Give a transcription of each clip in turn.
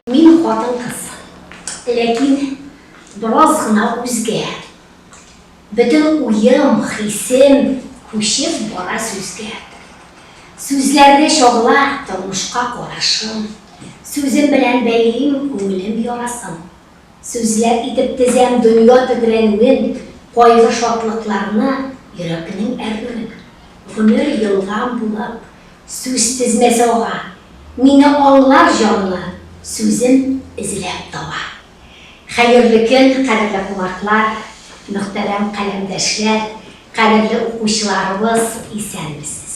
Мин хатын-кыз. Ләкин бераз гына үзгә. Бөтен уем, хисем күчеп бара сүзгә. Сүзләрдә чагыла тормышка карашым. Сүзем белән бәйлим күңелем ярасын. Сүзләр итеп тезәм дөнья тетрәнүен, Кайгы-шатлыкларны, йөрәкнең әрнүен. Гомер елган булып, сүз тезмәсе ага, Мине аңлар җанлы, сүзен эзләп таба. Хәерле көн, кадерле кунаклар, Мөхтәрәм каләмдәшләр, кадерле укучыларыбыз, исәнмесез!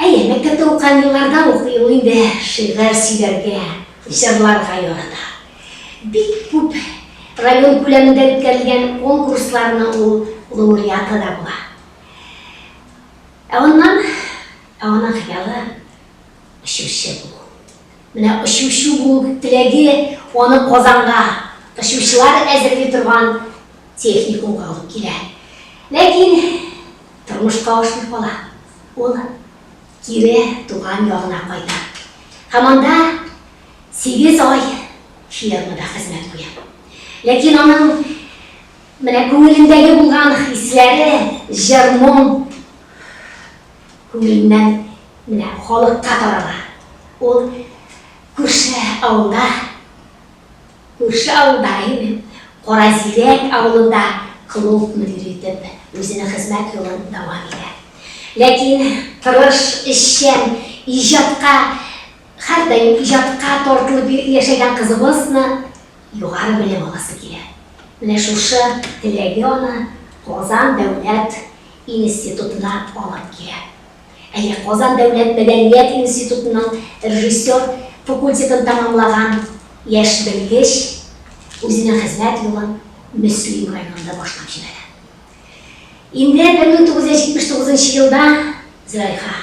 Әйе, мәктәптә укыган елларда ук ул инде шигырь сөйләргә, җырларга ярата. Бик күп район күләмендә үткәрелгән конкурсларның ул лауреаты да була. Ә аннан, ә аның хыялы, очучы булу. Менә очучы булу теләге аны Казанга очучылар әзерли торган техникумга алып килә. Ләкин. Тормышка ашмый кала, ул кире туган ягына кайта һәм анда сигез ай фермада хезмәт куя. Ләкин аның менә күңелендәге булган хисләре, җыр-моң күңеленнән менә халыкка тарала. Ул күрше авылда. Күрше авылда име, Каразирәк авылында клуб мөдире итеп үзенең хезмәт юлын дәвам итә. Ләкин тырыш, эшчән, иҗатка һәрдаим иҗатка тартылып яшәгән кызыбызны югары белем аласы килә. Менә шушы теләге аны Казан дәүләт институтына алып килә. Әле Казан дәүләт мәдәният институтының режиссер факультетын тәмамлаган яшь белгеч үзенең хезмәт юлын Мөслим районында башлап җибәрә. Инде 1979 нчы елда Зөләйха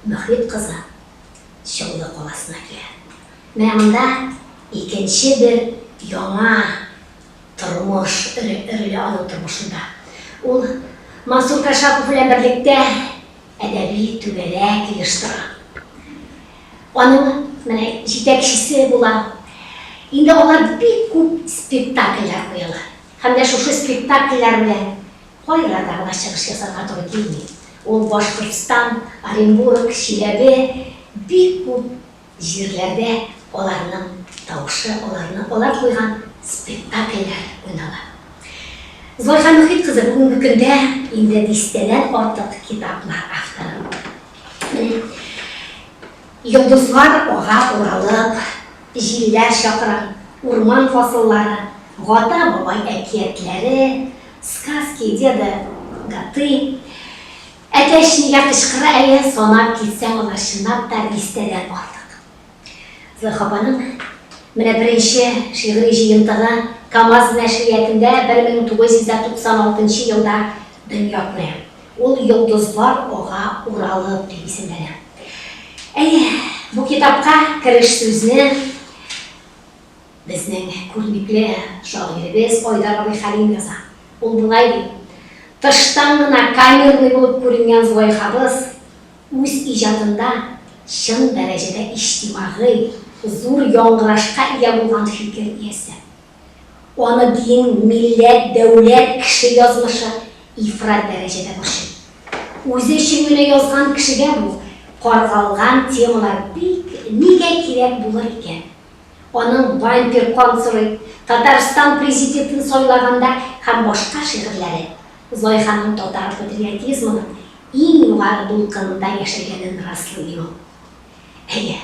Мөхит кызы Чаллы каласына килә. Менә монда икенче бер яңа Тормыш, эре, эреле авыл тормышында ул Мансур Кашапов белән берлектә әдәби түгәрәк оештыра. Аның менә җитәкчесе була. Инде алар бик күп спектакльләр куялар. Һәм дә шушы спектакльләр белән кайларда гына чыгыш ясарга туры килми. Ул Башкортстан, Оренбург, Чиләбе, бик күп. Җирләрдә аларның тавышы, аларны алар куйган спектакльләр уйнала. Зарифа Мөхит кызы бүгенге көндә инде дистәдән артык китаплар авторы. Менә Йолдызлар ага уралып, Җилләр чакыра, Урман фасыллары, Гата бабай әкиятләре, Сказки деда Гаты, Әтәч нигә кычкыра әле, санап китсәң, алар чынлап та дистәдән артык. Зөлха апаның менә беренче шигъри җыентыгы Камаз нәшриятында 1996 елда дөнья күрә. Ул Йолдызлар ага уралып дип исемләнә. Әйе, бу китапка кереш сүзне. Безнең күренекле шагыйребез Айдар абый Хәлим яза. Ул болай ди, Тыштан гына камерный булып күренгән Золайхабыз үз иҗатында чын дәрәҗәдә иҗтимагый, зур яңгырашка ия булган фикер иясе. Аны дин, милләт, дәүләт, кеше язмышы ифрат дәрәҗәдә борчый. Үзе өчен генә язган кешегә бу каргалган темалар бик нигә кирәк булыр икән? Аның Вампир консулы, Татарстан президентын сайлаганда һәм башка шигырьләре Зайханың татар патриотизмының иң югары дулкынында яшәгәнен раслый ди ул. Әйе,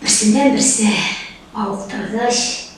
берсеннән-берсе мавыктыргыч,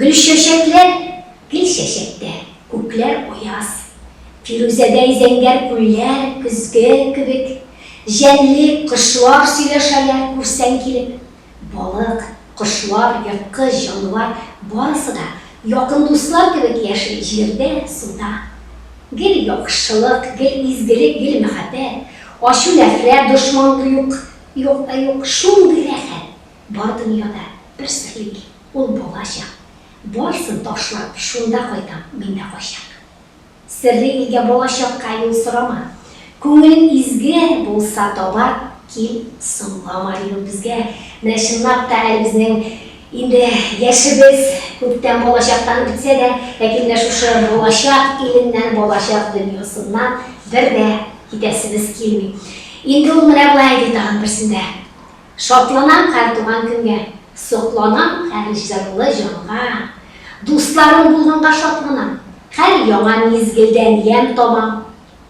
Гөлчәчәкләр гел чәчәктә, күкләр аяз. Фирүзәдәй зәңгәр күлләр көзге кебек җәнле, кошлар сөйләшәләр, күрсәң килеп. Балык, кошлар, ерткыч җанвар, барысы да якын дуслар кебек яши җирдә, суда. Гел яхшылык, гел изгелек, гел мәхәббәт. Ачу-нәфрәт, дошман юк, юк та юк. Шундый рәхәт! Бар дөньяда бер серлек, ул балачак, Барсын ташлап, шунда кайтам, мин дә кайчак. Серле илгә балачакка юл сорама, Күңелең изге булса, таба кил, соңлама, Ди ул безгә, менә чынлап та әле безнең инде яшебез күптән балачактан үтсә дә, ләкин менә шушы балачак иленнән, балачак дөньясыннан бер дә китәсебез килми. Инде ул менә болай ди тагын берсендә. Шатланам һәр туган көнгә. Сокланам һәр җырлы җанга. Дусларым булганга шатланам. Һәр яңа мизгелдән ямь табам.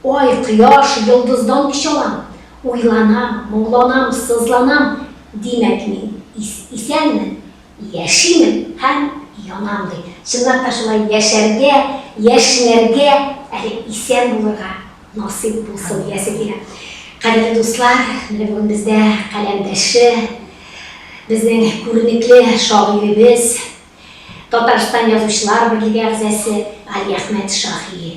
Ай, кояш, йолдыздан көч алам. Уйланам, моңланам, сызланам. Димәк, мин исәнмен, Яшимен һәм янам, ди. Чынлап та шулай яшәргә, яшьнәргә, әле исән булырга насыйп булсын диясе килә. Кадерле дуслар, менә бүген бездә каләмдәше, безнең күренекле шагыйребез, Татарстан Язучылар берлеге әгъзасы Галиәхмәт Шаһи.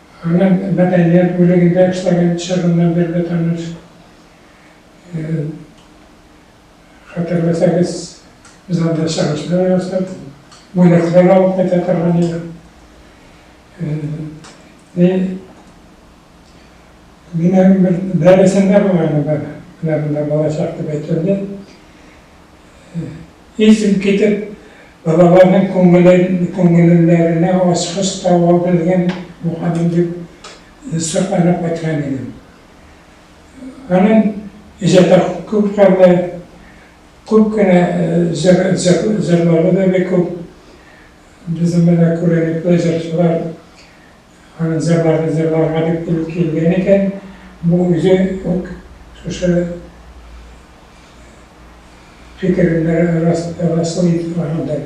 Һөнәр, мәдәният бүлегендә эшләгән чорыннан бирле таныш. Хәтерләсәгез, без анда чыгышлар ясап, бүләкләр алып кайта торган идек. Минем бер дәресем дә булган иде, менә монда балачак дип әйткәндә. Исем китеп, балаларның күңелләренә ачкыч таба белгән булганым дип сокланып кайткан идем. Аның иҗаты күп кырлы, күп кенә җырлары да бик күп. Безнең менә күренекле җырчылар, Аның зәбарны зәбарга дип килеп килгән икән, бу үзе үк шушы фикерендә расыл итеп баргандыр.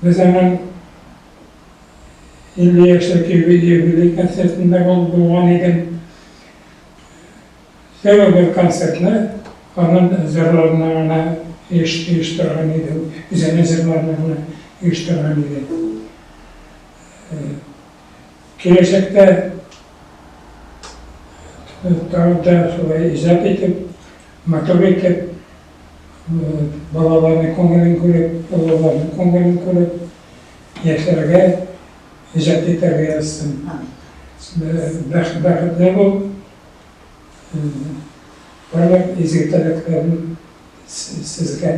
Без аның 50 яшьлек юбилей концертында булган идем. Сәбәп бер концертны анын зырларына гына оештырган идем, үзенең зырларына гына оештырган идем. Киләчәктә тагын да шулай иҗат итеп, матур итеп, балаларның күңелен күреп, олыларның күңелен күреп, яшәргә, иҗат итәргә язсын. Бәхетле бул, барлык изге теләкләрен сезгә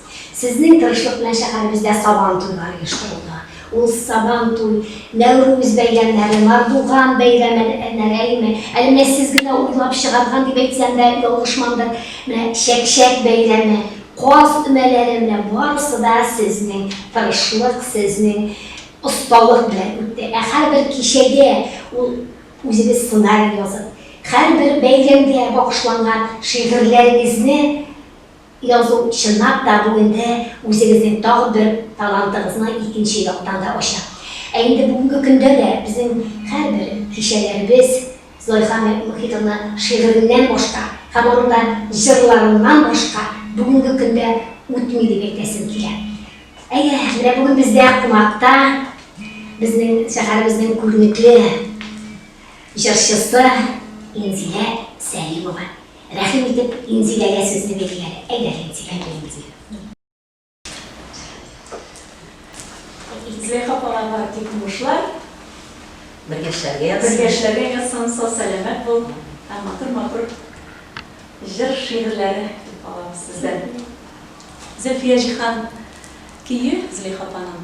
Сезнең тырышлык белән шәһәребездә Сабан туйлары оештырылды. Ул Сабан туй, Нәүрүз бәйрәмнәре, Мардуган бәйрәме нәрәеме, әле менә сез генә уйлап чыгарган дип әйтсәм дә ялгышмамдыр, менә Чәкчәк бәйрәме, Каз өмәләре, менә барысы да сезнең тырышлык, сезнең осталык белән үтте. Ә һәрбер кичәгә ул үзегез сценарий язып, һәрбер бәйрәмгә багышланган шигырьләрегезне, Язу, чынлап та, бу инде үзегезнең тагын бер талантыгызны икенче яктан да ача. Ә инде бүгенге көндә дә безнең һәрбер кичәләребез Золиха Мөхитовна шигыреннән башка һәм аның да җырларыннан башка бүгенге көндә үтми дип әйтәсем килә. Әйе, менә бүген бездә кунакта безнең шәһәребезнең күренекле җырчысы Инзилә Сәлимова. Рәхим итеп Инзиләгә сүзне бирделәр. Әйдә, Инзилә, килен килен. Инзилә апага бар тик уңышлар. Бергә эшләргә язсын. Бергә эшләргә язсын, сау-сәламәт бул һәм матур-матур җыр-шигырьләре көтеп калабыз сездән. Зөлфия Җиһан көе, Зөләйха апаның.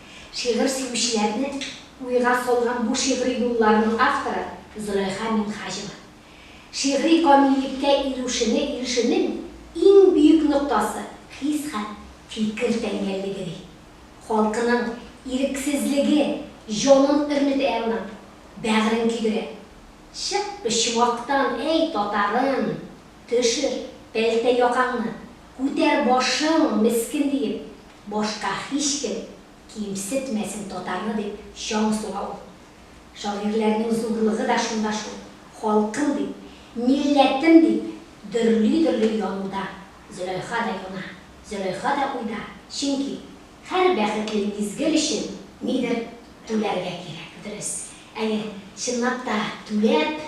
Шигырь сөючеләрне уйга салган бу шигъри юлларның авторы Зөләйха Минһаҗева. Шигъри камиллеккә иреүшене ирешүнең иң бөек ноктасы, хис һәм фикер тәңгәллеге, ди. Халкының ирексезлеге җанын өрнетә ана, бәгырен көйдерә. Чык бе чуактан, әй татарым! Төшер, пәлтә якаңны, күтәр башың, мескен, диеп, башка һичкем кимсетмәсен татарны, дип чаң суга ул. Шагыйрьләрнең зурлыгы да шунда шул, халкым дип, милләтем дип, дөрли-дөрли януда Зөләйха да юна, Зөләйха да уйда, чөнки һәр бәхетле мизгел өчен нидер түләргә кирәк, дөрес. Әйе, чынлап та, түләп,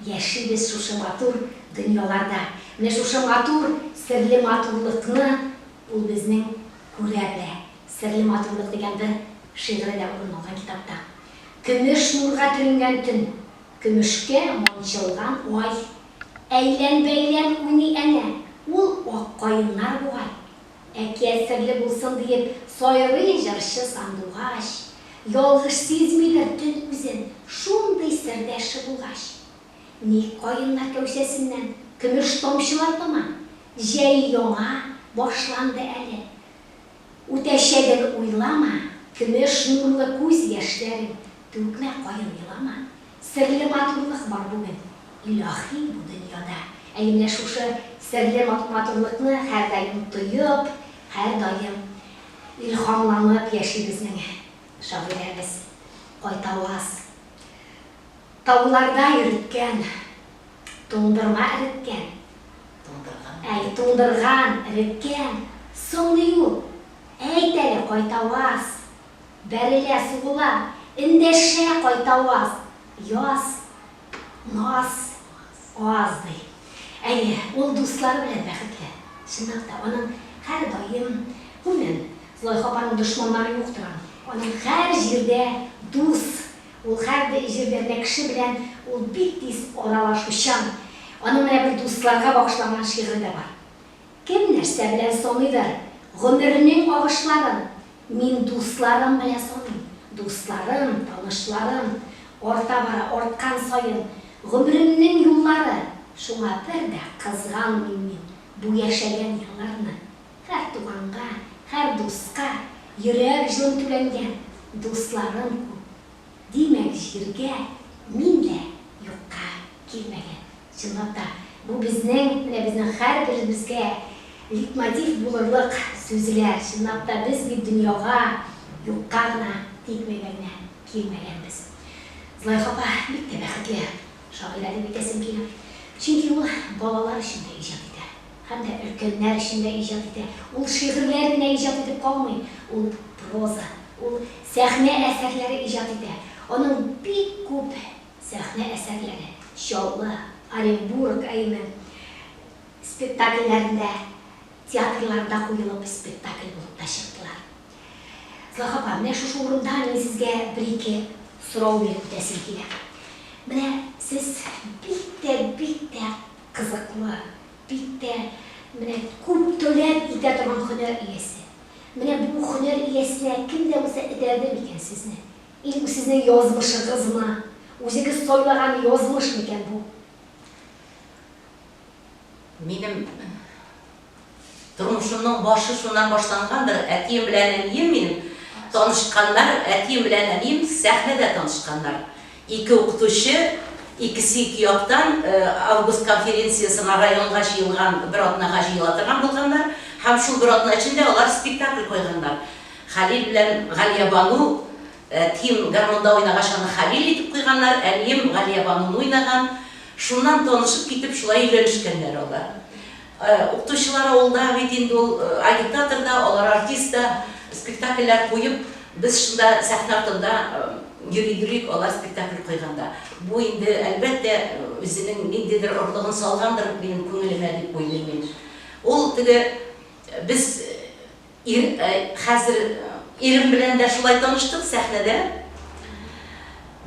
Яшибез шушы матур дөньяларда. Менә шушы матур, серле матурлыкны ул безнең күрә белә. Серле матурлык дигән бер шигыре дә урын алган китапта. Көмеш нурга төренгән төн. Көмешкә манчылган ай. Әйлән-бәйлән уйный әнә. Ул ак каеннар бугай. Әкият серле булсын диеп сайрый җырчы сандугач, Ялгыш сизмидер төн үзен, шундый сердәше булгач. Ник каеннар кәүсәсеннән көмеш тамчылар тама? Җәй яңа башланды әле. Үтәчәген уйлама, Көмеш нурлы күз яшьләрен түкмә, каен елама. Серле матурлык бар бүген, илаһи бу дөньяда. Әйе, менә шушы серле матурлыкны һәрдаим тоеп, һәрдаим илһамланып яши безнең шагыйрәбез. Кайтаваз. Тауларда йөреткән, туңдырма эреткән. Туңдырган. Әй, туңдырган, эреткән. Соңгы юл. Әйт әле, Кайтаваз. Бәрелә, сугыла, эндәшә кайта ваз, яз, наз, аз, ди. Әйе, ул дуслары белән бәхетле. Чынлап та, аның һәр даим, гомумән, Золайха апаның дошманнары юктыр аның. Аның һәр җирдә дус, ул һәр җирдә менә кеше белән ул бик тиз аралашучан. Аның менә бер дусларга багышланган шигыре дә бар. Кем нәрсә белән саныйдыр гомернең агышларын, мин дусларым белән саныйм. Дусларым, танышларым арта бара, арткан саен гомеремнең юллары, шуңа бер дә кызганмыйм мин бу яшәгән елларны. Һәр туганга, һәр дуска йөрәк җылым түләнгән, дусларым күп, Димәк, җиргә мин дә юкка килмәгән. Чынлап та, бу безнең, менә безнең һәрберебезгә литмотив булырлык сүзләр. Чынлап та, без бит дөньяга юкка гына тикмәгәннәр, килмәгәнбез. Зөләйха апа бик тә бәхетле шагыйрә дип әйтәсем килә. Чөнки ул балалар өчен дә иҗат итә. Һәм дә өлкәннәр өчен дә иҗат итә. Ул шигырьләр генә иҗат итеп калмый, ул проза, ул сәхнә әсәрләре иҗат итә. Аның бик күп сәхнә әсәрләре, Чаллы, Оренбург, әйеме, спектакльләрендә, театрларда куелып, спектакль булып та чыктылар. Зоһра апа, менә шушы урында мин сезгә бер-ике сорау биреп үтәсем килә. Менә сез бик тә, бик тә. Кызыклы, бик тә менә күп таләп итә торган һөнәр иясе. Менә бу һөнәр иясенә кем дә булса этәрде микән сезне? Или бу сезнең язмышыгызмы? Үзегез сайлаган язмыш микән бу? Минем. Тормышымның башы шуннан башлангандыр, әтием белән әнием минем танышканнар, әтием белән әнием сәхнәдә танышканнар. Ике укытучы, икесе ике яктан Август конференциясенә районга җыелган бер атнага җыела торган булганнар һәм шул бер атна эчендә алар спектакль куйганнар. Хәлил белән Галиябану, әтием гармунда уйнагач аны Хәлил итеп куйганнар, әнием Галиябануны уйнаган. Шуннан танышып китеп, шулай өйләнешкәннәр алар. Укытучылар авылда бит инде ул агитатор да, алар артист да, спектакльләр куеп, без шунда сәхнә артында йөри йөрик, алар спектакль куйганда. Бу инде, әлбәттә, үзенең ниндидер орлыгын салгандыр минем күңелемә дип уйлыйм мин. Ул теге без. Ир, Хәзер ирем белән дә шулай таныштык, сәхнәдә.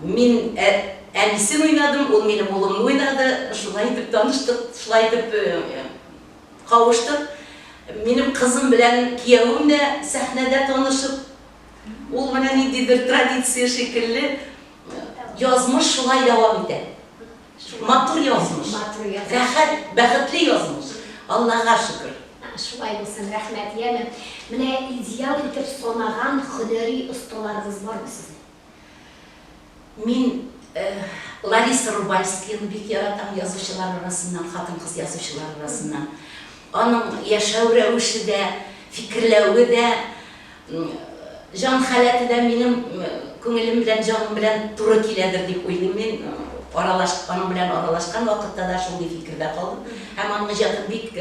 Мин әнисен уйнадым, ул минем улымны уйнады. Шулай итеп таныштык, шулай итеп кавыштык. Минем кызым белән киявем дә сәхнәдә танышып, ул менә ниндидер традиция шикелле, язмыш шулай дәвам итә. Матур язмыш. Матур язмыш. Рәхәт, бәхетле язмыш. Аллага шөкер. Шулай булсын, рәхмәт, яме. Менә идеал итеп санаган хөнәри осталарыгыз бармы сезнең? Мин Лариса Рубальскияны бик яратам, язучылар арасыннан, хатын-кыз язучылар арасыннан. Аның яшәү рәвеше дә, фикерләве дә, Җан халәте дә минем күңелем белән, җаным белән туры киләдер дип уйлыйм мин. Аралаш, аның белән аралашкан вакытта да шундый фикердә калдым. Һәм аның иҗатын бик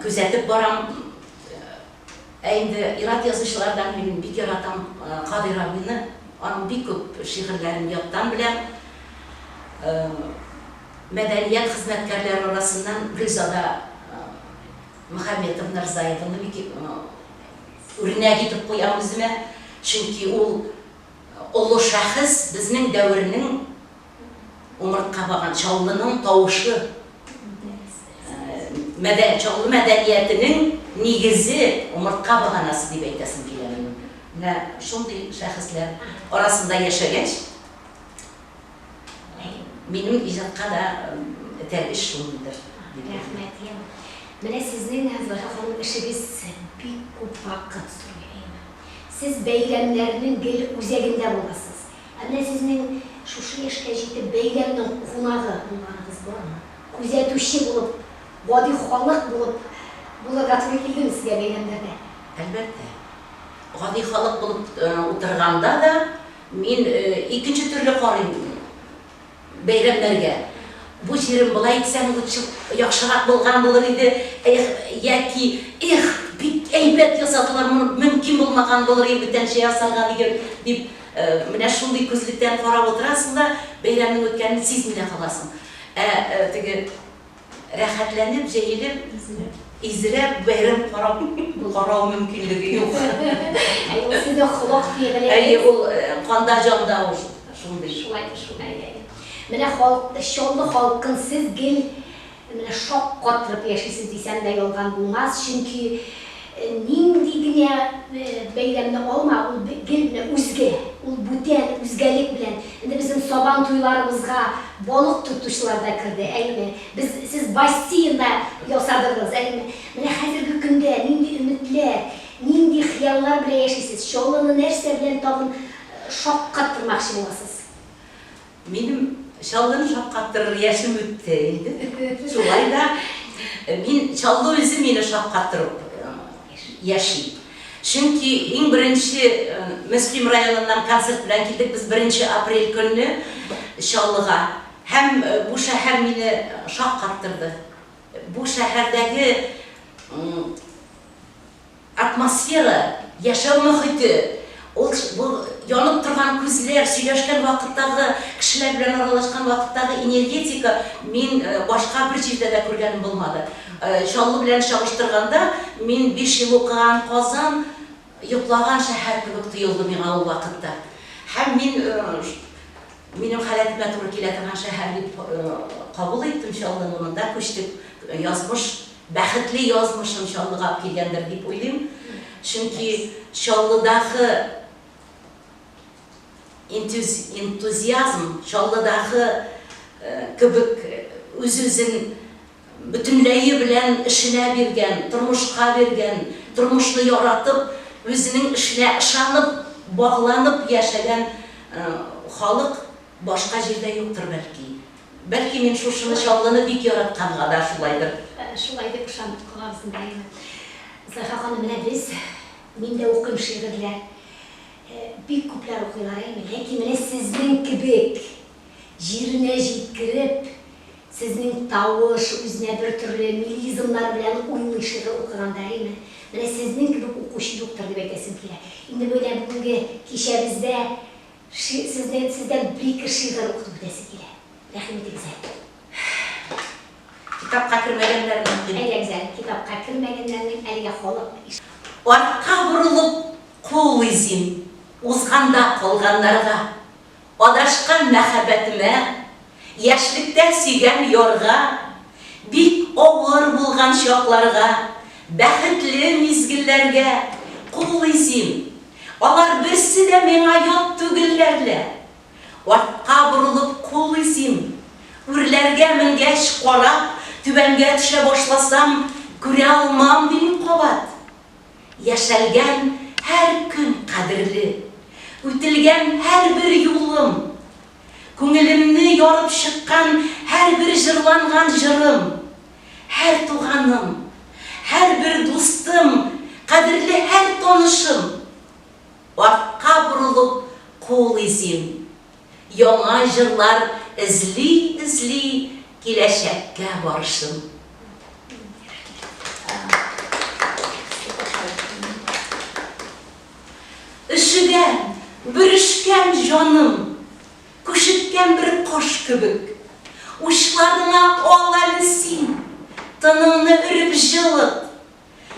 күзәтеп барам. Ә инде ир-ат язучылардан мин бик яратам Кадыйр абыйны. Аның бик күп шигырьләрен яттан беләм. Мәдәният хезмәткәрләре арасыннан Гөлзада. Мөхәммәтов Мирзаевны бик үрнәк итеп куям үземә, чөнки ул олы шәхес, безнең дәвернең умыртка баган Чаллының тавышы, Чаллы мәдәниятенең нигезе, умыртка баганасы дип әйтәсем килә минем. Менә шундый шәхесләр арасында яшәгәч, Минем иҗатка да этәргеч шундыйдыр, дип уйлыйм. Рәхмәт, ия. Менә сезнең, Зөләйха ханым, эшегез бик күп вакыт сорый, әйеме? Сез бәйрәмнәрнең гел үзәгендә буласыз. Ә менә сезнең шушы яшькә җитеп бәйрәмнең кунагы булганыгыз бармы? Күзәтүче булып, гади халык булып булырга туры килдеме сезгә бәйрәмнәрдә? Әлбәттә. Гади халык булып утырганда да. Мин икенче төрле карыйм бәйрәмнәргә. Бу җирем болай итсәң лучше яхшырак булган булыр иде, эх, яки эх, бик әйбәт ясадылар, моны мөмкин булмаган булыр иде бүтәнчә ясарга диген, дип менә шундый күзлектән карап утырасың да, бәйрәмнең үткәнен сизми дә каласың. Ә теге Рәхәтләнеп җәелеп, изрәп бәйрәм карап карау мөмкинлеге юк. Әйе, ул сезнең холык фигылегез. Әйе, ул канда, җанда ул шундый. Шулай, шулай, әйе. Менә халык, Чаллы халкын сез гел менә шаккатырып яшисез дисәм дә ялган булмас, чөнки. Нинди генә бәйләмне алма, ул гел менә үзгә, ул бүтән, үзгәлек белән. Инде безнең Сабан туйларыбызга балык тотучылар да керде, әйеме? Без, сез бастиен да ясадыгыз, әйеме? Менә хәзерге көндә нинди өметләр, нинди хыяллар белән яшисез? Чаллыны нәрсә белән тагын шаккаттырмакчы буласыз? Минем Чаллыны шаккаттырыр яшем үтте инде. Шулай да мин Чаллы үзе мине шаккаттырып яши. Чөнки иң беренче Мөслим районыннан концерт белән килдек без 1 апрель көнне Чаллыга. Һәм бу шәһәр мине шаккаттырды. Бу шәһәрдәге Атмосфера, яшәү мохите, ул бу янып торган күзләр, сөйләшкән вакыттагы, кешеләр белән аралашкан вакыттагы энергетика, мин башка бер җирдә дә күргәнем булмады. Чаллы белән чагыштырганда, мин биш ел укыган Казан йоклаган шәһәр кебек тоелды миңа ул вакытта. Һәм мин минем халәтемә туры килә торган шәһәр дип кабул иттем Чаллыны, монда күчтек, язмыш бәхетле язмышын Чаллыга алып килгәндер дип уйлыйм. Чөнки Чаллыдагы энтузиазм, Чаллыдагы кебек үз-үзен бөтенләе белән эшенә биргән, тормышка биргән, тормышны яратып, үзенең эшенә ышанып, багланып яшәгән халык Башка җирдә юктыр бәлки. Бәлки мин шушыны Чаллыны бик яратканга да шулайдыр. Шулай дип ышанып калабыз инде әйе. Зарифа ханым менә без, мин дә укыйм шигырьләр. Бик күпләр укыйлар әйме, ләкин менә сезнең кебек җиренә җиткереп, сезнең тавыш, үзенә бер төрле мелизмнар белән уйный шигырь укыганда әйме, менә сезнең кебек укучы юктыр дип әйтәсем килә. Инде менә бүгенге кичәбездә Ши, сездән, сездән бер-ике шигырь укыту үтәсе килә. Рәхим итегез әле. Китапка кермәгәннәрнең дип. Әйдәгез әле, китапка кермәгәннәрнең әлегә халык иш. Артка борылып кул изим, узганда калганнарга. Адашкан мәхәббәтемә Яшьлектә сөйгән ярга, Бик авыр булган чакларга, Бәхетле мизгелләргә Куллый син. Алар берсе дә миңа ят түгелләр лә. Артка борылып куллый син. Үрләргә менгәч, карап, Түбәнгә төшә башласам, Күрә алмам, ди мин кабат. Яшәлгән һәр көн кадерле. Үтелгән һәрбер юлым Күңелемне ярып чыккан һәрбер җырланган җырым, һәр туганым, һәрбер дустым, кадерле һәр танышым! Артка борылып кул изим, яңа җырлар эзли-эзли киләчәккә барышым. Рәхмәт. Өшегән, бөрешкән җаным, Күшеккән бер кош кебек. Учларыңа ал әле син, Тыныңны өреп җылыт.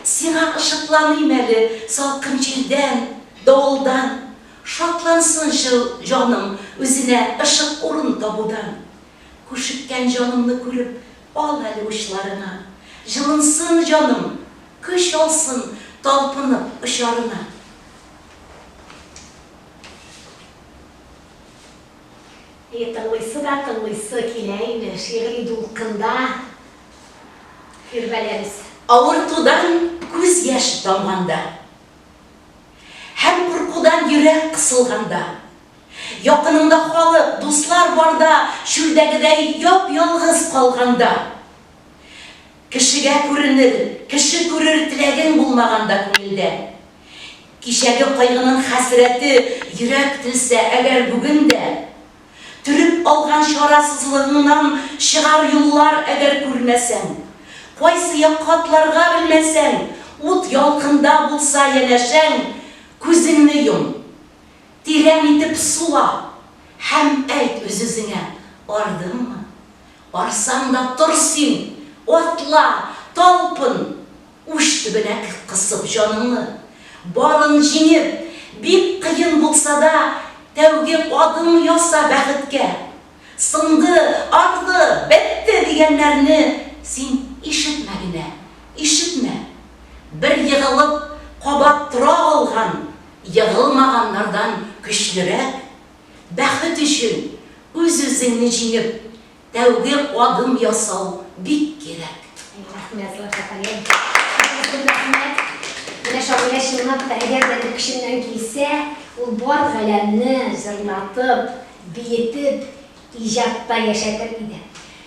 Сиңа ышыкланыйм әле Салкын җилдән, давылдан. Шатлансынчы җаным үзенә Ышык урын табудан. Күшеккән җанымны күреп, Ал әле учларыңа, җылынсын җаным, Көч алсын талпынып очарына. И, тыңлыйсы да тыңлыйсы килә име, шигъри дулкында Фирвәләбез. Авыртудан күз яшь тамганда. Һәм куркудан йөрәк кысылганда. Якыныңда халык, дуслар барда, чүлдәгедәй яп-ялгыз калганда. Кешегә күренер, кеше күрер теләгең булмаганда күңелдә. Кичәге кайгының хәсрәте йөрәк телсә әгәр бүген дә. Төреп алган чарасызлыгыңнан чыгар юллар әгәр күрмәсәң. Кайсы якка атларга белмәсәң, ут ялкында булса янәшәң, күзеңне йом. Тирән итеп сула һәм әйт үз-үзеңә, Ардыңмы? Арсаң да тор син, атла, талпын! Уч төбенә кысып җаныңны, барын җиңеп, бик кыен булса да, тәүге адым яса бәхеткә! Сынды, агды, бетте дигәннәрне син ишетмә генә, ишетмә! Бер егылып, кабат тора алган! Егылмаганнардан көчлерәк, бәхет өчен үз-үзеңне җиңеп, тәүге адым ясау бик кирәк. Рәхмәт, Лафа ханым. Сезгә зур рәхмәт. Менә Шамилә чынлап та, әгәр дә бер көченнән килсә, ул бар галәмне җырлатып, биетеп, иҗатта яшәтер иде.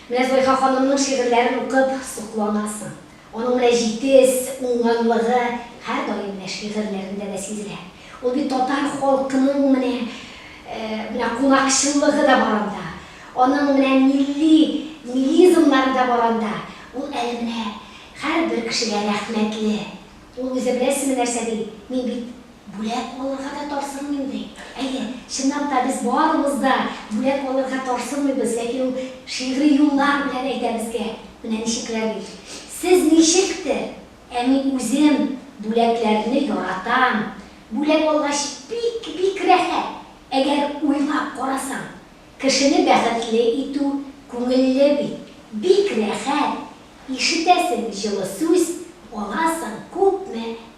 Менә Зөләйха ханымның шигырьләрен укып сокланасың. Аның менә җитез, уңганлыгы һәрдаим менә шигырьләрендә дә сизелә. Ул бит татар халкының менә, менә кунакчыллыгы да бар анда. Аның менә милли, милизмнары да бар анда. Ул әле менә һәрбер кешегә рәхмәтле. Ул үзе беләсезме нәрсә ди? Мин бит Бүләк алырга да тарсынмыйм, ди. Әйе, чынлап та, без барыбыз да бүләк алырга тарсынмыйбыз, ләкин ул шигъри юллар белән әйтә безгә, менә ничекләр бит. Сез ничектер, ә мин үзем бүләкләрне яратам. Бүләк алгач, бик-бик рәхәт. Әгәр уйлап карасаң, кешене бәхетле итү күңелле бит. Бик рәхәт, ишетәсең җылы сүз, аласың күпме.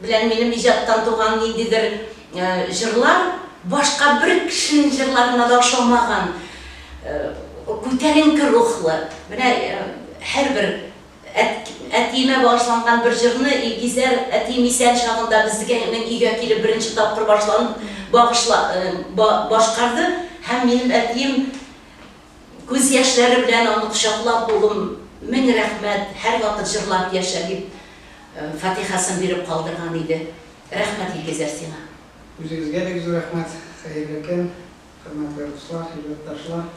Белән минем иҗаттан туган ниндидер җырлар башка бер кешенең җырларына да ошамаган күтәренке рухлы. Менә һәрбер әтиемә багышланган бер җырны Илгизәр әтием исән чагында безнең өйгә килеп беренче тапкыр башланып башкарды һәм минем әтием Күз яшьләре белән аны кочаклап, Улым, мең рәхмәт, һәрвакыт җырлап яшә, дип, фатихасын биреп калдырган иде. Рәхмәт, Илгизәр, сиңа. Үзегезгә бик зур рәхмәт, хәерле көн, хөрмәтле дуслар, илләтташлар.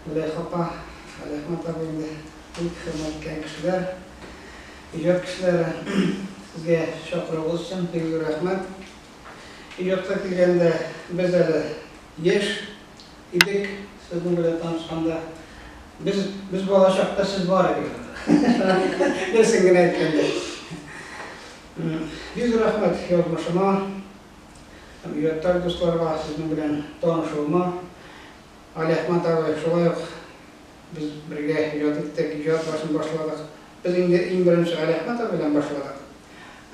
Мөләйха апа, Алиәхмәт абый инде бик хөрмәткән кешеләр, иҗат кешеләре. Сезгә чакыруыгыз өчен бик зур рәхмәт. Иҗатка килгәндә, без әле яшь. Идек, сезнең белән танышканда. Без, без бала чакта сез бар идегез анда. Дөресен генә әйткәндә. Бик зур рәхмәт язмышыма һәм иҗатташ дусларга сезнең белән танышуыма. Алиәхмәт абый, шулай ук без бергә иҗат иттек, иҗат башын башладык. Без инде иң беренче Алиәхмәт абый белән башладык.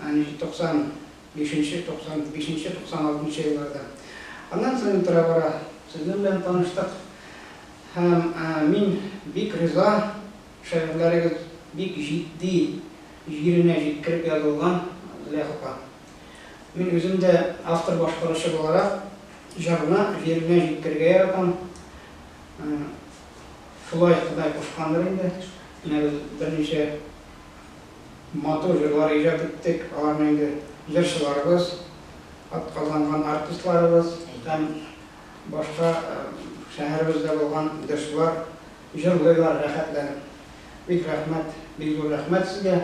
Ә ничек 90 Бишенче, туксан бишенче, туксан алтынчы елларда. Аннан соң тора-бара сезнең белән таныштык һәм мин бик риза, шигырьләрегез бик җитди, җиренә җиткереп язылган, Зөләйха апа. Мин үзем дә автор-башкаручы буларак, җырны җиренә җиткергә яратам. Шулай Ходай кушкандыр инде, менә без берничә. Матур җырлар иҗат иттек, аларны инде җырчыларыбыз, атказанган артистларыбыз һәм башка шәһәребездә булган җырчылар җырлыйлар рәхәтләнеп. Бик рәхмәт, бик зур рәхмәт сезгә.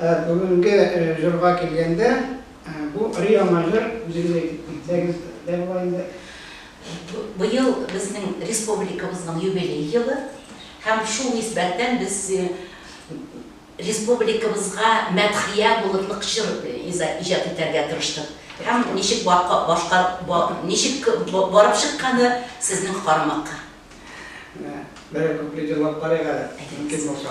Ә бүгенге җырга килгәндә, бу өр-яңа җыр, үзегез әйтеп китсәгез дә була инде. Быел безнең республикабызның юбилей елы һәм шул нисбәттән без, Республикабызга мәдхия булырлык җыр иҗат итәргә тырыштык. Һәм ничек барып чыкканы сезнең карамакка. Менә берәр куплет җырлап карыйк әле, мөмкин булса.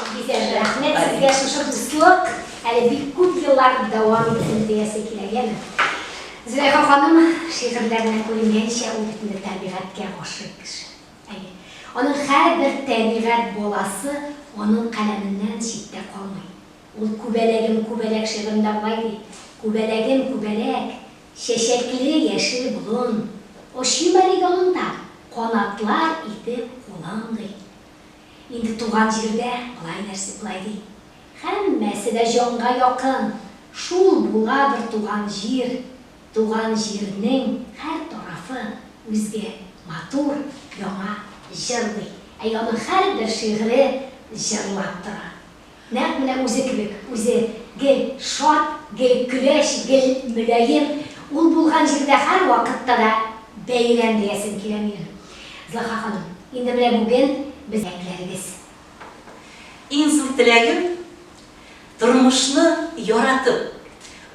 Бик рәхмәт сезгә шушы дуслык әле бик күп еллар дәвам итсен диясе килә, яме? Зөләйха ханым шигырьләренә күренгәнчә ул бит инде табигатькә гашыйк кеше. Әйе. Аның һәрбер табигать баласы аның каләменнән читтә калмый. Ул Күбәләгем күбәләк шигырендә болай ди, Күбәләгем күбәләк, чәчәкле яшел болын, Очыйм әле яныңда, канатлар итеп кулың, ди. Инде туган җирдә болай нәрсә болай ди. Һәммәсе дә җанга якын. Шул була бер туган җир. Туган җирнең һәр тарафы үзгә матур, яңа җырлый. Әй аның һәрбер шигыре җырлап тора. Нәкъ менә үзе кебек, үзе, гел шат, гел көләч, гел мөлаем, ул булган җирдә һәрвакытта да бәйрәм диясем килә минем. Зөлха ханым, инде менә бүген без теләкләрегез. Иң зур теләгем, тормышны яратып,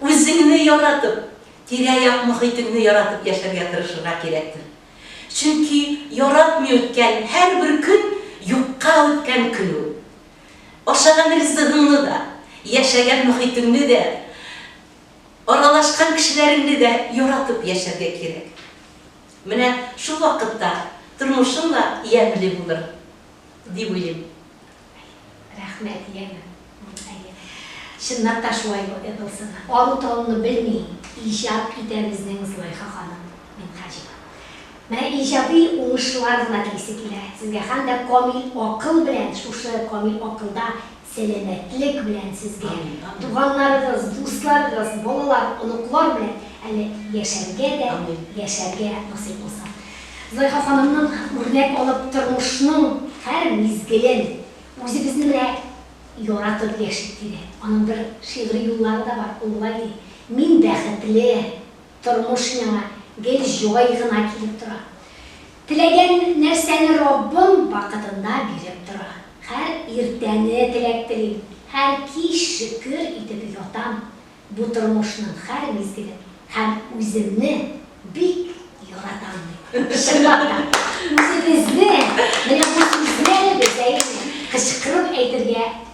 үзеңне яратып, тирә-як мохитеңне яратып яшәргә тырышырга кирәктер. Чөнки яратмый үткән һәрбер көн юкка үткән көн ул. Ашаган ризыгыңны да, яшәгән мохитеңне дә, аралашкан кешеләреңне дә яратып яшәргә кирәк. Менә шул вакытта тормышың да ямьле булыр, дип уйлыйм. Рәхмәт, янә. Әйе. Чыннап та шулай булсын. Ару-талуны белми иҗат итәбез, Зөләйха ханым Минһаҗева. Менә иҗади уңышлар гына телисе килә сезгә һәм дә камил акыл белән, шушы камил акылда сәламәтлек белән сезгә, туганнарыгыз, дусларыгыз, балалар, оныклар белән әле яшәргә дә яшәргә насыйп булсын. Зөләйха ханымнан үрнәк алып тормышның һәр мизгелен үзебезне менә яратып яшик, диде. Аның бер шигъри юллары да бар, ул болай ди, Мин бәхетле. Тормыш миңа гел җай гына килеп тора. Теләгән нәрсәне Раббым вакытында биреп тора. Һәр иртәне теләк телим, һәр кич шөкер итеп ятам. Бу тормышның һәр мизгелен һәм үземне бик яратам, ди. Чынлап та, үзебезне менә бу сүзләр безгә инде кычкырып әйтергә